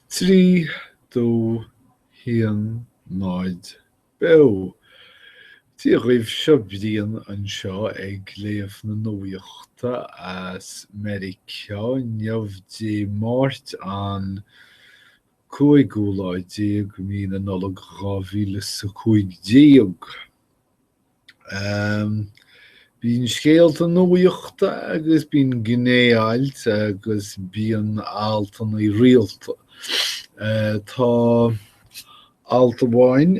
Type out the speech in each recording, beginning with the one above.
3, 2, 1, 0, Beo! Dia dhaoibh, seo Brian anseo ag léamh na nuachta as Meiriceá inniu Dé Máirt an cúigiú lá déag mí na Nollag dhá mhíle 'sa cúig déag. Bíonn scéalta nuachta agus bíonn gné-ailt agus bíonn altanna rialta. Tá alt amháin,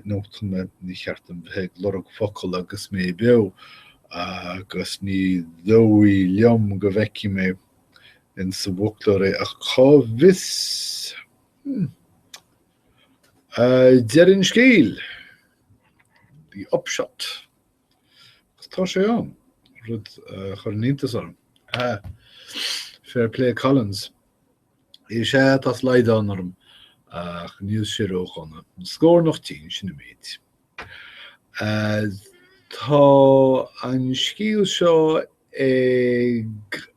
nó tá mé, ní ceart dom bheith ag lorg focal agus mé beo agus ní dóigh liom go bhfeicfidh mé insa bhfoclóir é ach cá bhfios? Deireadh an scéil, the upshot, agus tá sé ann, rud a chuireann iontas orm. Fair play Collins. Is ea, tá slaghdán orm, ach níl sé ródhona. Scornach tinn, sin an méid. Tá an scéal seo ag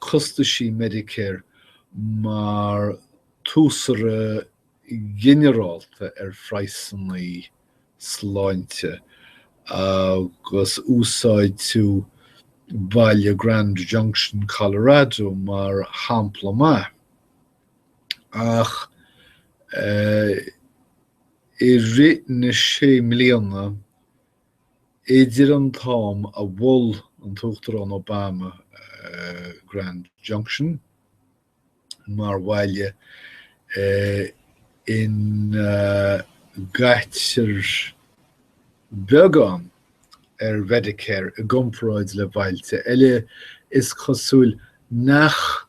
costaisí Medicare mar táscaire ginearálta ar phraghsanna sláinte agus úsáidtear baile Grand Junction, Colorado mar shampla mhaith. Ach i rith na sé mbliana Idir an t-am a mhol an tUachtarán Obama Grand Junction mar bhaile ina gcaitear beagán ar Mhedicare i gcomparáid le bailte eile, is cosúil nach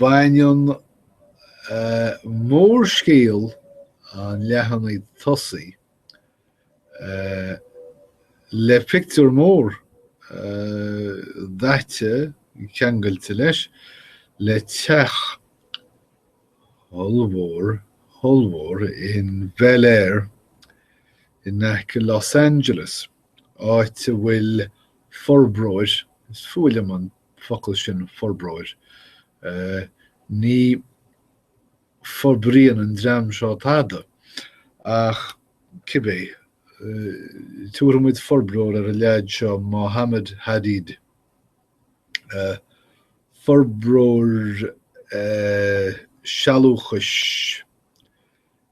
Baineann mórscéal an leathanaigh tosaigh le pictiúr mór daite, ceangailte leis, le teach ollmhór, ollmhór in Bel Air in aice Los Angeles. áit a bhfuil forbróir, is fuath liom an focal sin forbróir, ní fhorbraíonn an dream seo tada ach cibé, tabharfaidh muid forbróir ar an leaid seo, Mohammed Hadid, forbróir sealúchais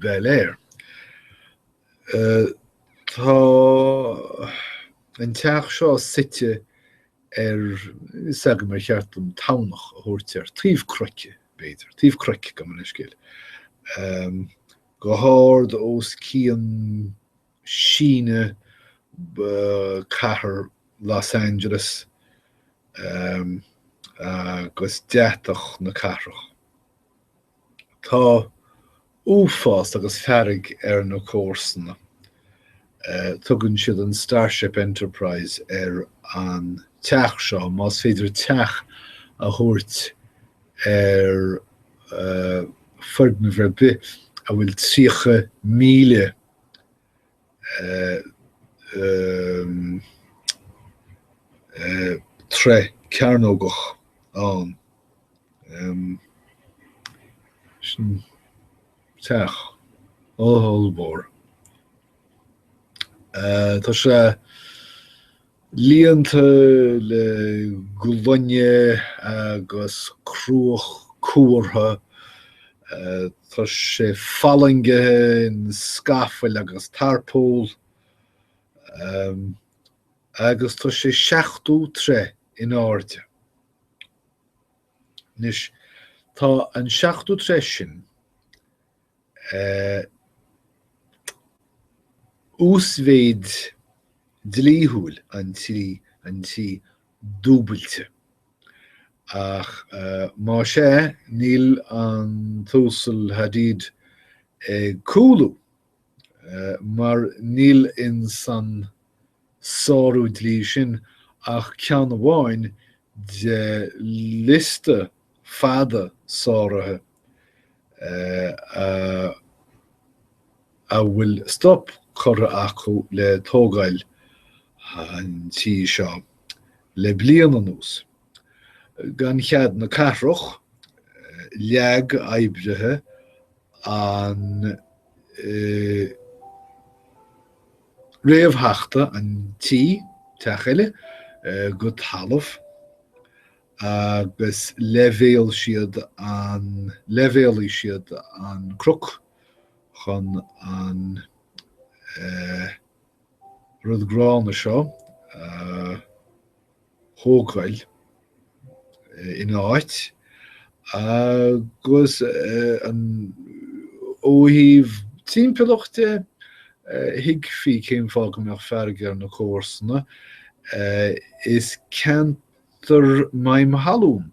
Bel Air. Tá an teach seo suite ar, níl a fhios agam ar cheart dom tamhnach a thabhairt air, taobh cnoic b'fhéidir, taobh cnoic, gabh mo leithscéal, go hard os cionn síneadh chathair Los Angeles agus deatach na cathrach. Tá uafás agus fearg ar na comharsana. Tugann siad an Starship Enterprise ar an teach seo, más féidir teach a thabhairt ar foirgneamh ar bith a bhfuil 30,000 troigh cearnógach ann. Sin teach ollmhór. Tá sé. Líonta le gloine agus cruach cuartha, tá sé fallaingithe in scafaill agus tarpól, agus tá sé seachtó troigh in airde. Anois, tá an seachtó troigh sin, uasmhéid dlíthiúil an tí dúbailte, ach más ea, níl an tUasal Hadid ag cúlú, mar níl ins an. sárú dlí sin ach ceann amháin de liosta fada sáruithe a bhfuil stop curtha acu le tógáil an tí seo le bliain anuas. Gan chead na cathrach, leag oibrithe an. réamhtheachta an tí, teach eile, go talamh agus leibhéal siad an, leibhéalaigh siad an cnoc chun an rud gránna seo a. thógáil ina áit agus ó thaobh timpeallachta, thuigfí cén fáth go mbeadh fearg ar na comharsana, is ceantar maidhm thalún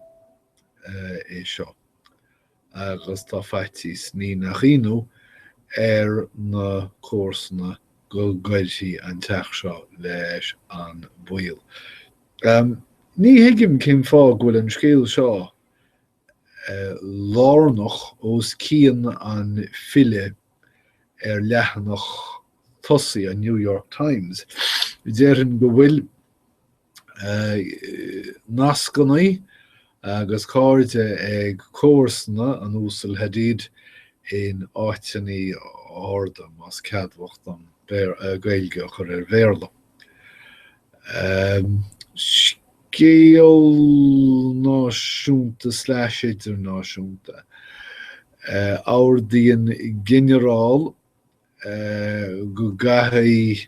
é seo agus tá faitíos, ní nach ionadh, ar na comharsana go gcuirfidh an teach seo leis an baol. Ní thuigim cén fáth go bhfuil an scéal seo lárnach os cionn an filleadh ar leathanach tosaigh an New York Times. Déarfainn go bhfuil. nascanna agus cairde ag comharsana an Uasail Hadid in áiteanna arda, más ceadmhach dom Gaeilge a chur ar Bhéarla. scéal náisiúnta slash idirnáisiúnta. Ordaíonn ginearál go gcaithfidh.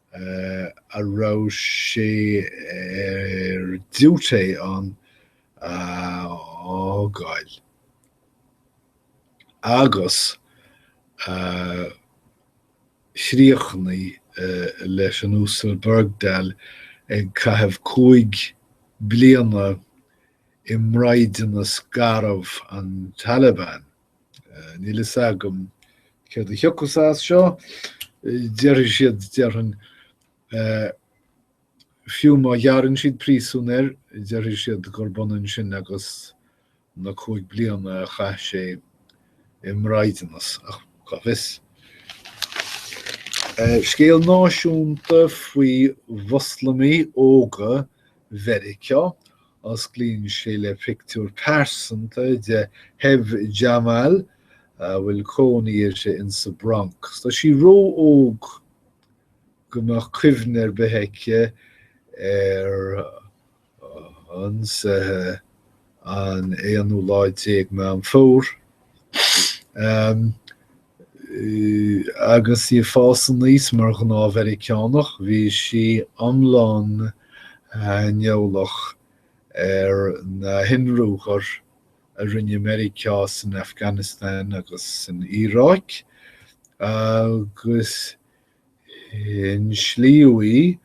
a raibh sé ar diúité ann a fhágáil agus a chríochnaigh leis an Uasal Bergdahl ag caitheamh cúig bliana i mbraighdeanas garbh an Taliban. Níl fhios agam céard a thiocfas as seo, déarfaidh siad, déarfainn, fiú má ghearrann siad príosún air, déarfaidh siad gurb ionann sin agus na cúig bliana a chaith sé i mbraighdeanas, ach cá bhfios. Scéal náisiúnta faoi Mhoslamaigh óga Mheiriceá Osclaíonn sé le pictiúr pearsanta de Hebh Jamal a bhfuil cónaí uirthi in sa Bronx. Tá sí ró-óg go mbeadh cuimhne ar bith aici ar ionsaithe an aonú lá déag Meán Fómhair. Agus í ag fás aníos mar ghnáth Mheiriceánach, bhí sí iomlán aineolach ar na hionruathair a rinne Meiriceá san Afganastáin agus san Iaráic, agus inslíodh í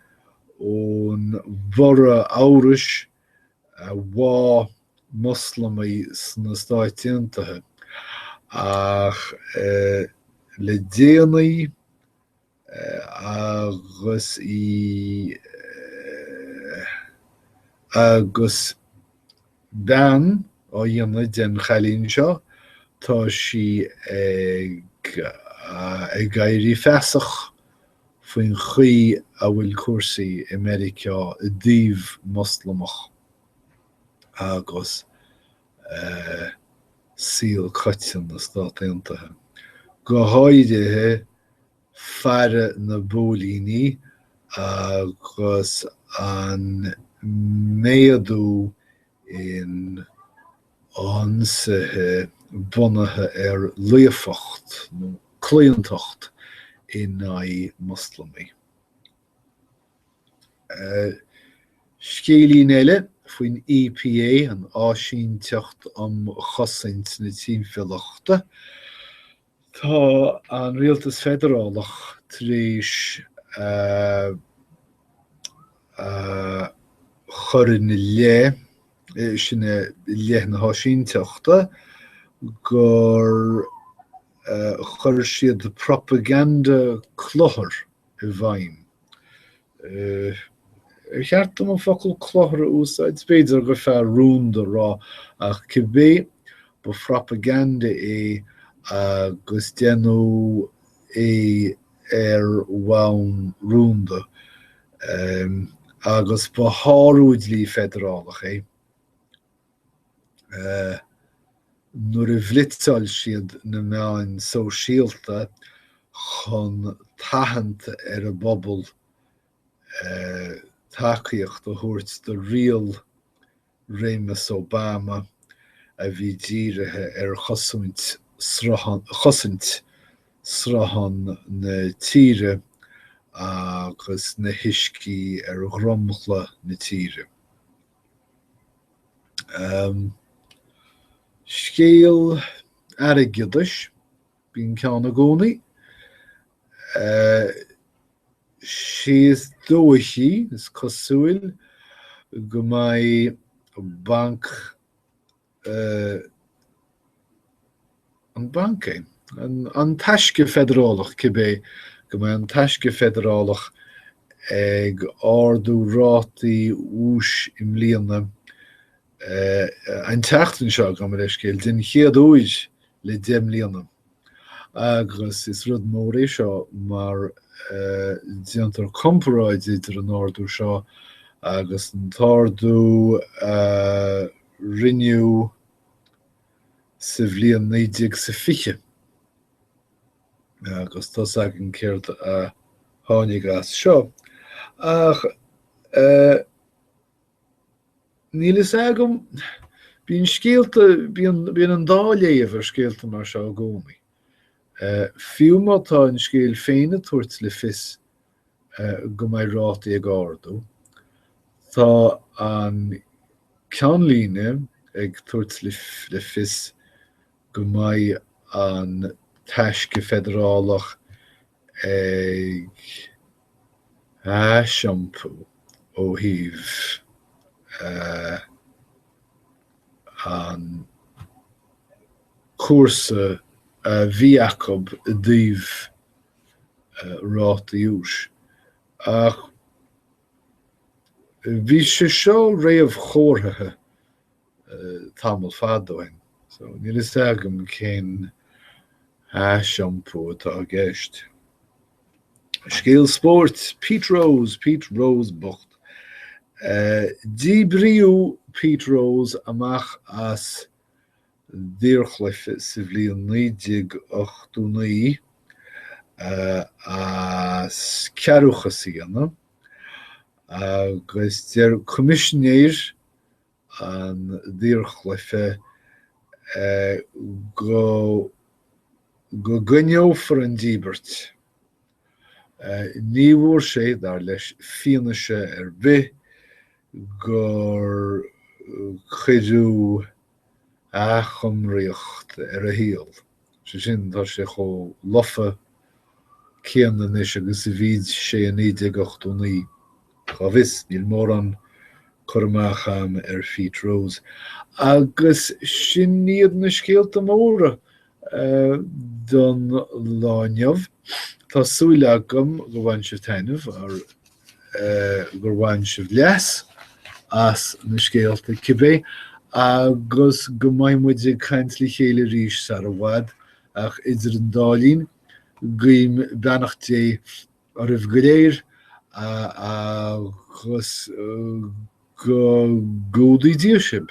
ón bhorradh amhrais bháigh Moslamaigh sna Stáit Aontaithe, ach le déanaí agus í agus bean á dhéanamh den chailín seo, tá sí ag éirí feasach faoin gcaoi a bhfuil cúrsaí i Meiriceá i dtaobh Muslamach agus saol coitianta na Stát Aontaithe, go háirithe faire na bpóilíní agus an méadú in ionsaithe bunaithe ar biogóideacht nó claontacht in aghaidh Muslamaigh. Scéilín eile faoin EPA, an Áisínteacht um Chosaint na Timpeallachta, Tá an Rialtas Feidearálach tar éis a chur ina leith, sin i leith na háisínteachta, gur chuir siad propaganda cluthair i bhfeidhm. Ar cheart dom an focal cluthar a úsáid? B'fhéidir gur fearr rúnda a rá, ach cibé, ba phropaganda é agus déanadh é ar bhonn rúnda, agus ba shárú dlí feidearálach é. nuair a bhlitzáil siad na meáin sóisialta chun tathant ar an bpobal tacaíocht a thabhairt do riail réimeas Obama a bhí dírithe ar chosaint sruth chosaint sruthán na tíre agus na huiscí ar dhromchla na tíre. Scéal airgeadais, bíonn ceann i gcónaí. Sé is dóichí, is cosúil, go mbeidh Banc. eh. an banc é? an an Taisce Feidearálach, cibé go mbeidh an Taisce Feidearálach ag ardú rátaí úis i mbliana, eh, an tseachtain seo, gabh mo leithscéal, den chéad uair le deich mbliana agus is rud mór é seo mar, eh, déantar comparáid idir an ardú seo agus an t-ardú, eh, rinneadh sa bhliain naoi déag 's a fiche, agus tá's againn céard a tháinig as seo, ach níl fhios agam, bíonn scéalta, bíonn an dá léamh ar scéalta mar seo i gcónaí, fiú má tá an scéal féin ag tabhairt le fios go mbeidh rátaí ag ardú. Tá an ceannlíne ag tabhairt le fios go mbeidh an Taisce Feidearálach ag aisiompú ó thaobh an chúrsa a bhí acu i dtaobh rátaí úis, ach bhí sé seo réamhchomharthaithe tamall fada ó shin, so níl fhios agam cén aisiompú atá i gceist. Scéal spóirt, Pete Rose, Pete Rose bocht. Díbríodh Pete Rose amach as an daorchluiche sa bhliain 1989 as cearrbhachas a dhéanamh agus deir Coimisinéir an Daorchluiche go go gcoinneofar an díbirt. Ní bhfuair sé, dar leis, fianaise ar bith gur cuireadh. athchumraíocht ar a shaol, sé sin, tá sé chomh lofa céanna anois agus a bhí sé i 1989. Cá bhfios, níl mórán cur amach a'm ar Phete Rose. Agus sin iad na scéalta móra don lá inniu. Tá súil agam gur bhain sibh taitneamh. gur bhain sibh leas as na scéalta cibé agus go mbeidh muid ag caint le chéile arís sar i bhfad, ach idir an dá linn, guím beannacht Dé oraibh go léir agus go gcumhdaí Dia sibh.